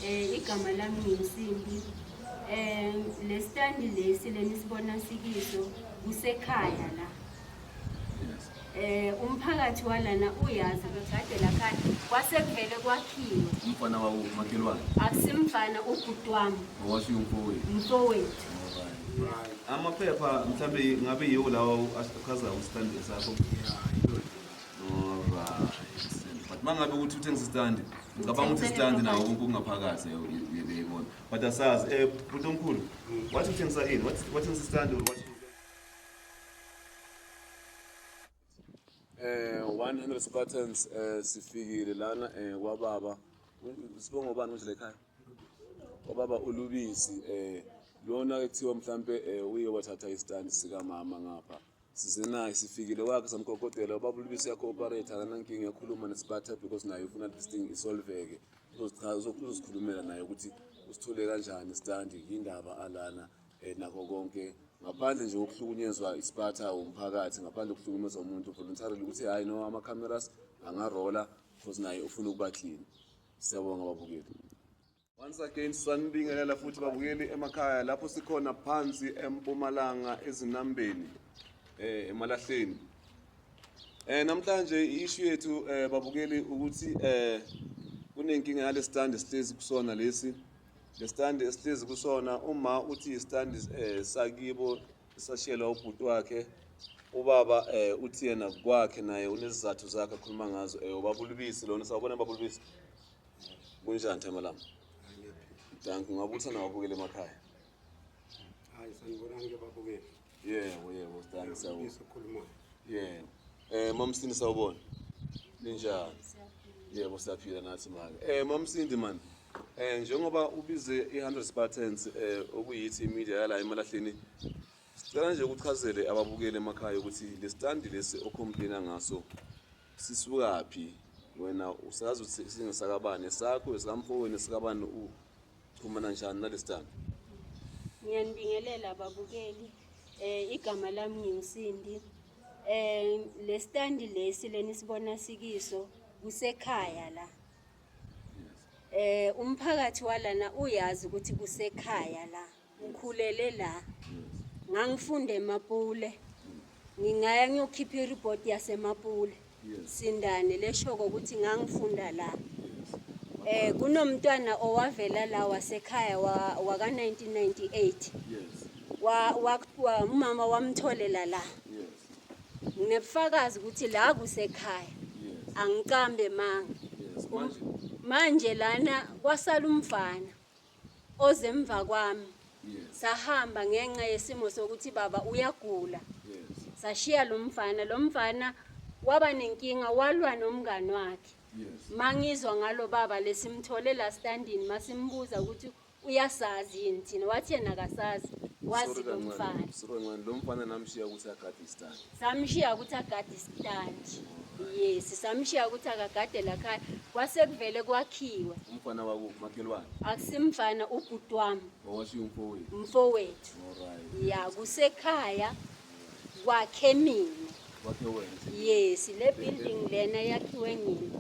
Eh igama lami nginsimbi. Eh le stand lesi lenisibona sikiso kusekhaya la. Eh umphakathi walana uyazi ukuthi kade la khaya kwasekuvele kwakhiwe. Umfana wawo umakhelwane. Akusimfana ubhuti wami. Owasho umfowethu. Umfowethu. Amaphepha mhlambe ngabe yiwo lawo achaza ustand sakho. Yeah. but uma ngabe ukuthi uthengisa isitandi ngicabanga ukuthi isitandi nawo konke okungaphakathi uyebeyibona but asazi um eh, bhuti omkhulu wathi uthengisa ini wathengisa isitandi or wathi Eh 100 Spartans eh sifikile lana eh kwababa sibonga ubani manje lekhaya kwababa ulubisi eh lona ekuthiwa mhlambe eh uye wathatha istand sika mama ngapha sisenayo sifikile kwakhe samkokotela ubaba ulibisi yakho-operate akanankinga yakhuluma nesibatha because naye ufuna this thing isolveke uzozikhulumela naye ukuthi usithole kanjani standi yindaba alana um nakho konke ngaphandle nje kokuhlukunyezwa isiphatha womphakathi ngaphandle kokuhlukumeza umuntu voluntarily ukuthi hhayi no ama-cameras angarola because naye ufuna ukuba clean siyabonga babukeli Once again sanibingelela futhi babukeli emakhaya lapho sikhona phansi empumalanga ezinambeni eh emalahleni eh namhlanje ishu yethu eh babukeli ukuthi eh kunenkinga yale stand sihlezi kusona lesi le stand esihlezi kusona uma uthi stand eh sakibo sashiyela ubhuti wakhe ubaba eh uthi yena kwakhe naye unezizathu zakhe akhuluma ngazo eh ubabulubisi lona sawubona babulubisi Kunjani thema lami? Danki ngabe uthanda wabukela emakhaya. Hayi sanibona ngeke babukele. Yebo yebo danki sawu. Ngisokhuluma. Yebo. Eh mamsini sawubona. Ninjani? Yebo siyaphila nathi maka. Eh mamsindi man. Eh njengoba ubize i100 Spartans eh okuyithi media yala emalahleni Sicela nje ukuchazele ababukeli emakhaya ukuthi lesitandi lesi ocomplaina ngaso sisukaphi wena usazi ukuthi singesakabani sakho esikamfowenu esikabani uchumana njani nalesitandi ngiyanibingelela ababukeli eh igama lami ngimsindi eh lesitandi lesi leni sibona sikiso kusekhaya la eh umphakathi walana uyazi ukuthi kusekhaya la Ngikhulele la. Ngangifunda eMapule. Ngingaya ngiyokhipha ireport yaseMapule. Sindane leshoko ukuthi ngangifunda la. Eh kunomntwana owavela la wasekhaya waka 1998. Wa umama wamtholela la. Nginebufakazi ukuthi la kusekhaya. Angiqambe manga. Manje lana kwasala umfana. ozemva kwami sahamba ngenxa yesimo sokuthi baba uyagula sashiya lo mfana lo mfana waba nenkinga walwa nomngani wakhe mangizwa ngalo baba lesimthole la standini masimbuza ukuthi uyasazi yini thina wathi yena akasazi wazi lo mfana lo mfana namshiya ukuthi agade istandi samshiya ukuthi agade isitandi yes samshiya ukuthi akagade lakhaya kwase kuvele kwakhiwa umfana wakuphi makhelwane akusimfana ubhuti wami owashiya umfowethu umfowethu ya kusekhaya kwakhe mina yes le building lena yakhiwe mina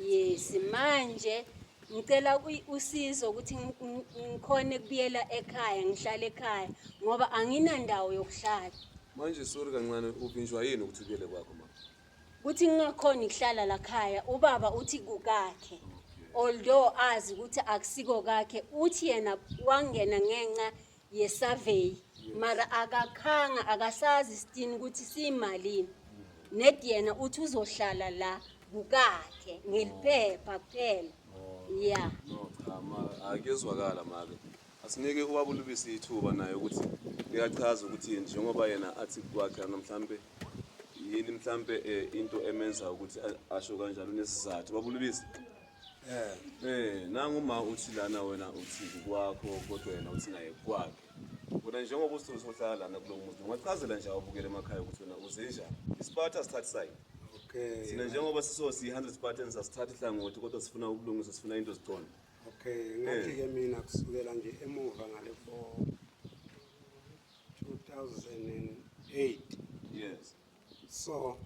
yes manje Ngicela usizo ukuthi ngikhone kubuyela ekhaya ngihlale ekhaya ngoba anginandawo yokuhlala. Manje sorry kancane uvinjwa yini ukuthi ubuyele kwakho mama? Kuthi ngingakhona ukuhlala la khaya ubaba uthi kukakhe. Although azi ukuthi akusiko kakhe uthi yena wangena ngenxa yesurvey mara akakhanga akasazi isitini ukuthi siyimalini ned yena uthi uzohlala la kukakhe ngeliphepha kuphela ya No, cha ma akuyezwakala make. Asinike ubaba ulubisi ithuba naye ukuthi ngiyachaza ukuthi njengoba yena athi kwakhe namhlambe yini mhlambe eh, into emenza ukuthi a- asho kanjalo unesizathu. Baba ulubisi Eh, eh nangu uma uthi lana wena uthi kwakho kodwa yena uthi naye kwakhe. Wena njengoba usuthi uhlala lana kulo muzi, ungachazela nje awubukele emakhaya ukuthi wena uze njani. Isiphatha sithatha side. Okay. Sina njengoba siso si 100 Spartans asithathi hlangothi kodwa sifuna ubulungiswa, sifuna into ziqonde. Okay, ngathi ke mina kusukela nje emuva ngale for 2008 Yes. so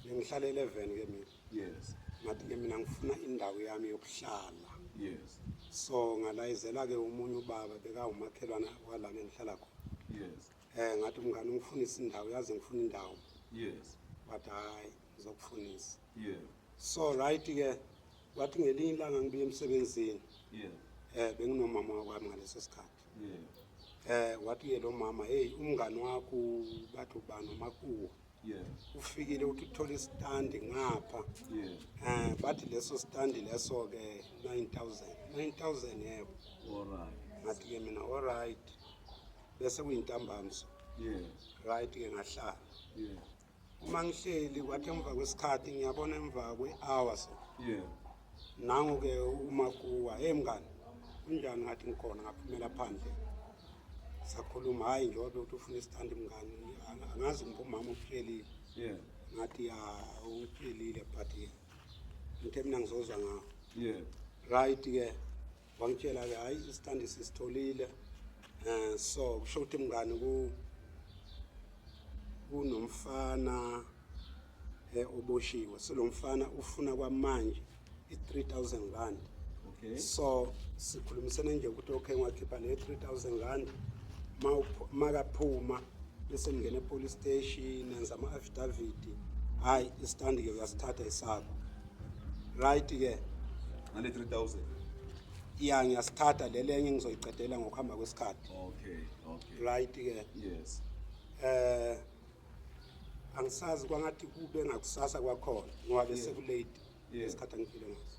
bengihlala 11 ke mina yes ngathi ke mina ngifuna indawo yami yokuhlala yes so ngalayizela ke umunye ubaba bekawumakhelwana walana engihlala khona yes eh ngathi umngane ungifunisa indawo yazi ngifuna indawo yes but hayi ngizokufunisa yeah so right ke wathi ngelinye ilanga ngibuye emsebenzini yeah eh benginomama wakwami ngaleso sikhathi eh wathi yena umama hey umngani wakho bathu bani umakuwa ufikile uthi uthola isitandi ngapha eh bathi leso sitandi leso ke 9000 9000 yebo alright ngathi ke mina alright bese kuyintambamso yeah right ke ngahlala yeah uma ngihleli kwathi emva kwesikhathi ngiyabona emva kwe-hour so yeah nangu-ke umakuwa hey mngani unjani ngathi ngikhona ngaphumela phandle sakhuluma hhayi njengoba ukuthi ufuna isithandi mngani angazi ngipha umama uphilile yeah ngathi ya uphilile but ngithe mina ngizozwa ngawo yeah right-ke yeah. wangitshela-ke hhayi isitandi sisitholile um so kusho ukuthi mngani kunomfana eh, oboshiwe so lo mfana ufuna kwamanje i-3000 rand okay. so sikhulumisene nje ukuthi okay ngiwakhipha le 3000 rand makaphuma bese ngingena epolice station nenza ama-affidavit hhayi isitandi-ke uyasithatha isakho right ke ngale 3000 ya ngiyasithatha lele enye ngizoyiqedela ngokuhamba kwesikhathi okay okay right ke yes eh angisazi kwangathi kube ngakusasa kwakhona ngoba bese kulate isikhathi angiphile ngaso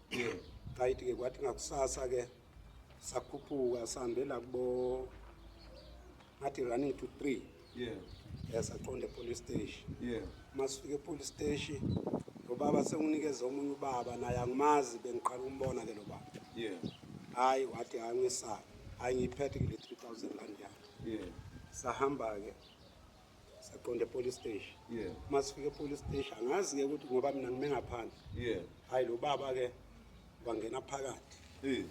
right ke kwathi ngakusasa ke sakhuphuka sihambela kubo ngathi running to three yeah yasaqonda epolice station yeah masifike epolice station lo baba senginikeze omunye ubaba naye angimazi bengiqala ukumbona ke lo baba yeah hayi wathi hayi ngesayo hayi ngiyiphethe kule 3000 rand yakhe yeah sahamba ke saqonda epolice station yeah uma sifika epolice station angazi ke ukuthi ngoba mina ngime ngaphandle yeah hayi lo baba ke wangena phakathi eh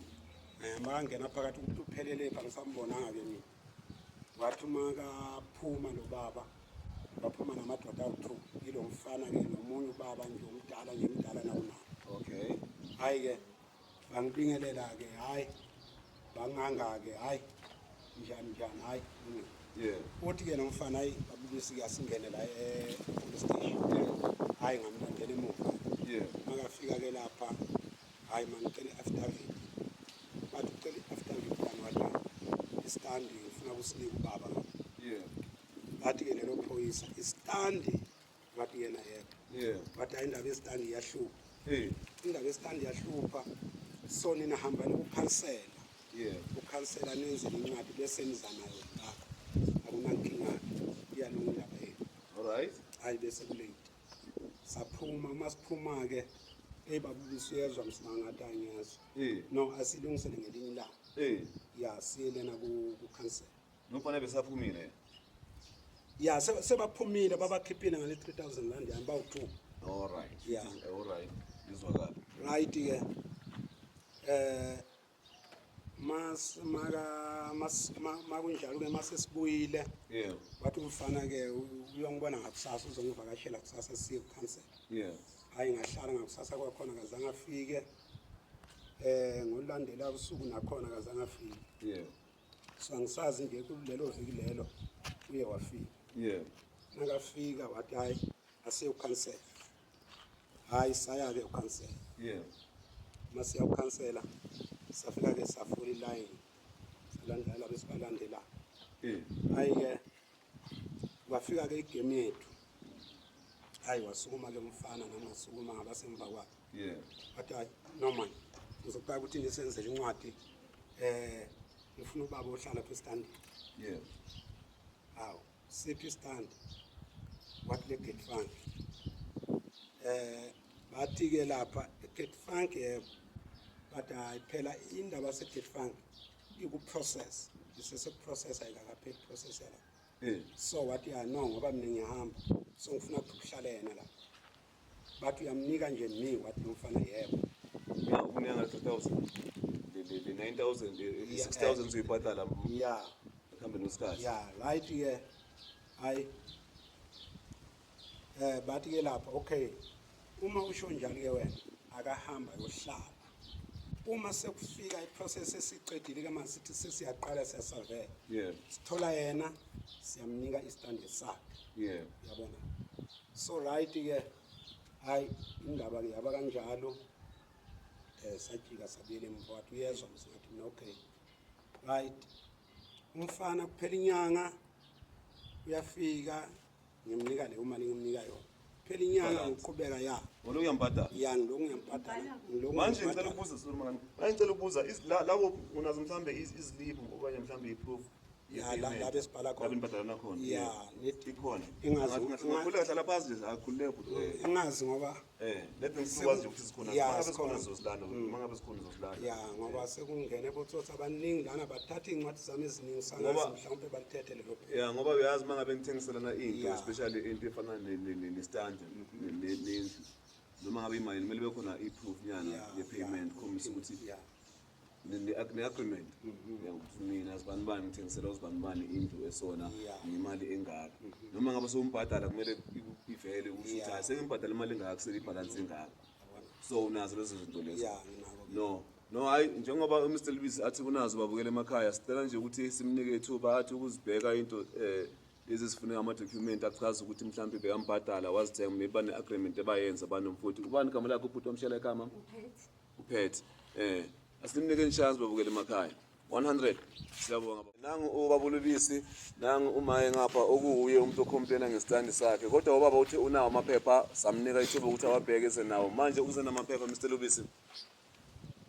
eh makangena phakathi ukuthi uphelele pha ngisambonanga ke mina wathi uma kaphuma lo baba baphuma namadoda awu-two yilo mfana ke nomunye ubaba nje omdala nje mdala nakunabo okay hayi ke bangibingelela-ke hhayi bangangake hhayi njani njani hhayi uthi-ke nomfana hayi babulisi-ke asingene la e-police station hhayi ngamlandela emuva makafika-ke lapha hhayi mangicela i-affidavit bathi ucela i-affidavit kani wada istandi ngifuna kusinika ubaba bathi-ke lelo phoyisa istandi ngathi yena yedwa yeah but hayi indaba yesitandi iyahlupha hey indaba yesitandi iyahlupha so nina hamba nikukhansela yeah ukhansela nenze incwadi bese niza nayo la akunankinga iyalunga indaba yethu all right hayi bese kulate saphuma uma siphuma ke eyi babulisa uyezwa msimangati angiyezwa hey no asilungisele ngelinye ilanga hey ya siyelena kukhansela Nofana besaphumile. Ya se- sebaphumile babakhiphile ngale 3000 rand yami bawu 2. All right. Yeah. All right. Ngizwakala. Right ke. Eh mas maka mas ma- makunjalo ke mase sibuyile Yeah. wathi umfana ke u- uyongibona ngakusasa uzongivakashela kusasa siye cancel. Yeah. Hayi ngahlala ngakusasa kwakhona kazange afike. Eh ngolandela usuku nakhona kazange afike. Yeah. so angisazi nje kulelo viki lelo uye wafika yebo nakafika wathi hayi aseyokhansela hayi saya-ke ukhansela yebo uma siyawukhansela safika-ke safula ilayini salandela besibalandela Eh, hayi-ke Kwafika ke igame yethu. Hayi wasukuma ke umfana nami ngasukuma ngabasemva kwakhe. Yeah. But hayi no man. Ngizokubeka ukuthi nisenzele incwadi eh ngifuna ubaba ohlala phe stand. Yeah. Hawu siphi stand? What le gate fund? Eh bathi ke lapha gate fund yebo. But hayi phela indaba se gate fund ikuprocess isesekuprocess ayikakapheli process yala eh. so wathi ya no ngoba mina ngiyahamba so ngifuna ukuthi kuhlale yena la bathi uyamnika nje mi wathi lomfana yebo uyakunika nga 2000 le 9000 6000 uyibhatala ya kambe nosikhathi ya right ke hayi Eh bathi ke lapha okay uma usho njani ke wena akahamba yohlala uma sekufika iprocess esiqedile ke manje sithi sesiyaqala siyasavela yebo sithola yena siyamnika istande sakhe yebo yabona so right ke hayi indaba ke yaba kanjalo eh sajika sabuyela emva wathi uyezwa msingathi mina okay right umfana kuphela inyanga uyafika Ngimnika le uma ningimnika yona. Phela inyanga ngiqhubeka ya. Wena uyambhadala. Ya ngiloko ngiyambhadala. Ngiloko. Manje ngicela ukubuza Solomon. Manje ngicela ukubuza lawo unazo mhlambe izilibu okanye mhlambe iproof. Ya la la besibhala khona. Labi nibhadala nakhona. Ya, ikhona. Ingazi. Ngikhulela hlala phansi nje akhulule. Ingazi ngoba Eh, lezi nsuku wazi ukuthi sikhona. Yeah, Mangabe sikhona sikhona. zosilanda, Mm. mangabe sikhona zosilanda. ya ngoba sekungene botsotsi abaningi lana bathatha iy'ncwadi zami eziningi Ngoba- sangazi mhlawumpe balithethe lelo phela Yeah, ngoba uyazi mangabe ngithengiselana into, Yeah. especially into efana ne- ne- ne- ne-stand, ne- ne- nendlu. Noma ngabe imali kumele kube khona i-proof nyana Yeah, ye-payment yeah, khombisa ukuthi yeah. ne-agreement ukuthi mina sibanibani ngithengisela usibanibani indlu esona nemali engaka noma ngabe sewumbhadala kumele ivele ukuthi ukuthi hayi sengimbhadala imali engaka selibhalansi engaka so unazo lezo zinto lezo no no hayi njengoba umr lubisi athi unazo babukela emakhaya sicela nje ukuthi simnike ithuba athi ukuzibheka into um lezi zifuneka ama-document achaza ukuthi mhlawumbe bekambhadala wazithenga maybe bane-agreement ebayenza banomfoti ubani igama lakho ubhuti omshela ekhama uphethe eh asimnike inchance babukele emakhaya 100 siyabonga nangu ubabulubisi nangu umaye ngapha okuwuye umuntu ocomplaina ngesitandi sakhe kodwa ubaba uthi unawo amaphepha samnika ithuba ukuthi awabheke esenawo manje ukuze namaphepha Mr Lubisi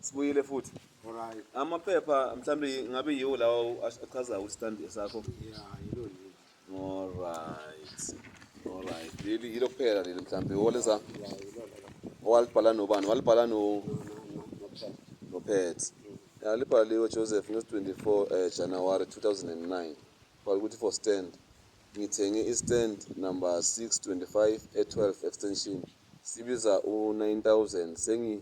sibuyile futhi right amaphepha mhlawumbe ngabe yiwo lawo achazayo ukuthi stand sakho yeah yilo Alright. Alright. Leli yilo kuphela leli mhlambe woleza. Owalibhala nobani? Walibhala no no Pet. Ya libhaliwe Joseph no 24 eh, January 2009. Bhala ukuthi for stand. Ngithenge i-stand number 625 e12 extension. Sibiza u9000 sengi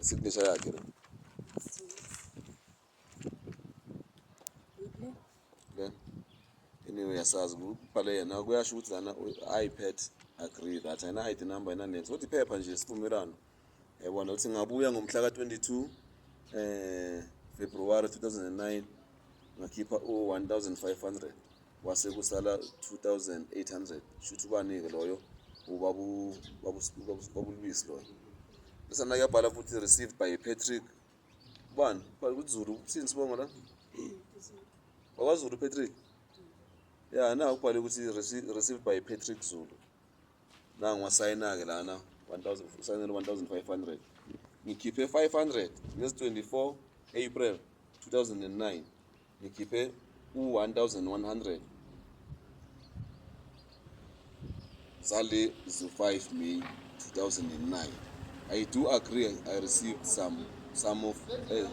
Signature yakhe. Le. Anyway yasazi kubhale yena kuyasho ukuthi lana iPad agree that ayina ID number ayina next. Kodwa iphepha nje sivumelwano. Yabona ukuthi ngabuya ngomhla ka-22 eh February 2009 ngakhipha u-1500 kwase kusala 2800 shuthi ubanike loyo ubabu babulwisi loyo bese nake yabhala futhi received by Patrick bani bhala ukuthi Zulu uthini sibongo la wakwaZulu Patrick ya na ukubhale ukuthi received by Patrick Zulu nangu wasayina ke lana 1000 usayinele 1500 ngikhiphe 500 ngezi 24 April 2009 ngikhiphe u-1100 zale zo-5 may 2009 i do agree i received some some of eh,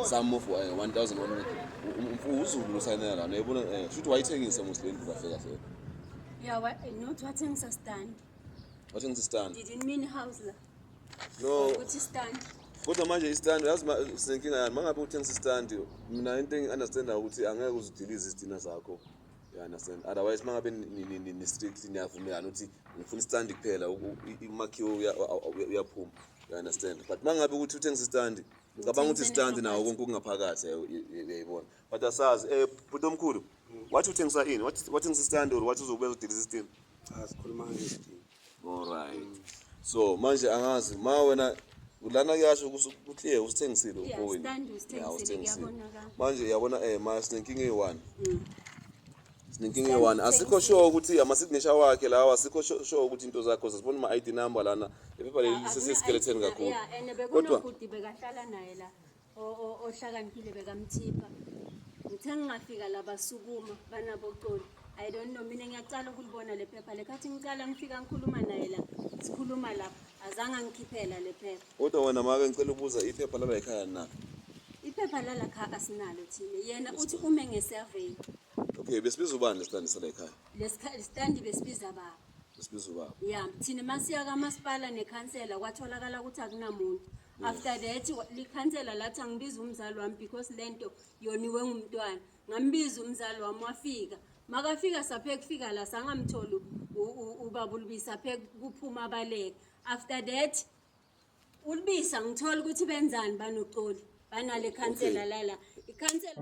some of eh, 1100 U- uzulu losayinela lana yebona eh, shuthi wayithengisa muslendi kahle kahle Yeah, what, not what things are stand. wathengisa istand Didn't mean house la. no ukuthi stand kodwa manje istand yazi sinenkinga yani mangabe uthengisa istand mina into engi-understanda ukuthi angeke uzidilize izidina zakho you understand otherwise mangabe ni-strict niyavumelana ukuthi ngifuna istand kuphela umakhiwo uyaphuma you understand but mangabe ukuthi uthengisa istand ngicabanga ukuthi istand nawo konke okungaphakathi uyayibona but asazi um eh, bhuti omkhulu wathi uthengisa ini wathengisa istand or wathi uzokwenza udilize istand cha sikhuluma ngesidingo Alright. So manje angazi ma wena lana kuyasho ukuthi eh usithengisile uboyi. Yeah, usithengisile. Manje uyabona eh ma sinenkinga eyi-one. Mm. Sinenkinga eyi-one. Asikho sure ukuthi ama-signature wakhe lawa asikho sure ukuthi into zakho sasibona ama-ID number lana. Iphepha leli ah, ah, liseseskeletheni kakhulu. Kodwa bekahlala naye la. ohlakaniphile bekamthipha ngithe ngingafika la basukuma banaboxoli i don't know mina ngiyacala ukulibona le phepha le khathi ngicala ngifika ngikhuluma naye la sikhuluma lapha azange angikhiphela le phepha kodwa wena make ngicela ubuza iphepha lala ekhaya na iphepha lala kha asinalo thina yena uthi ume ngesurvey okay besibiza ubani lesitandi sala ekhaya lesitandi besibiza baba besibiza ubaba ya thina masiya kamasipala nekhansela kwatholakala ukuthi akunamuntu after that likhansela lathi angibiza umzali wami because le nto yoniwe ngumntwana ngambiza umzali wami wafika makafika saphe kufika la sangamtholi ubaba ulubisa phe kuphuma abaleke after that ulubisa ngithola ukuthi benzani banoxoli banale khansela lala ikhansela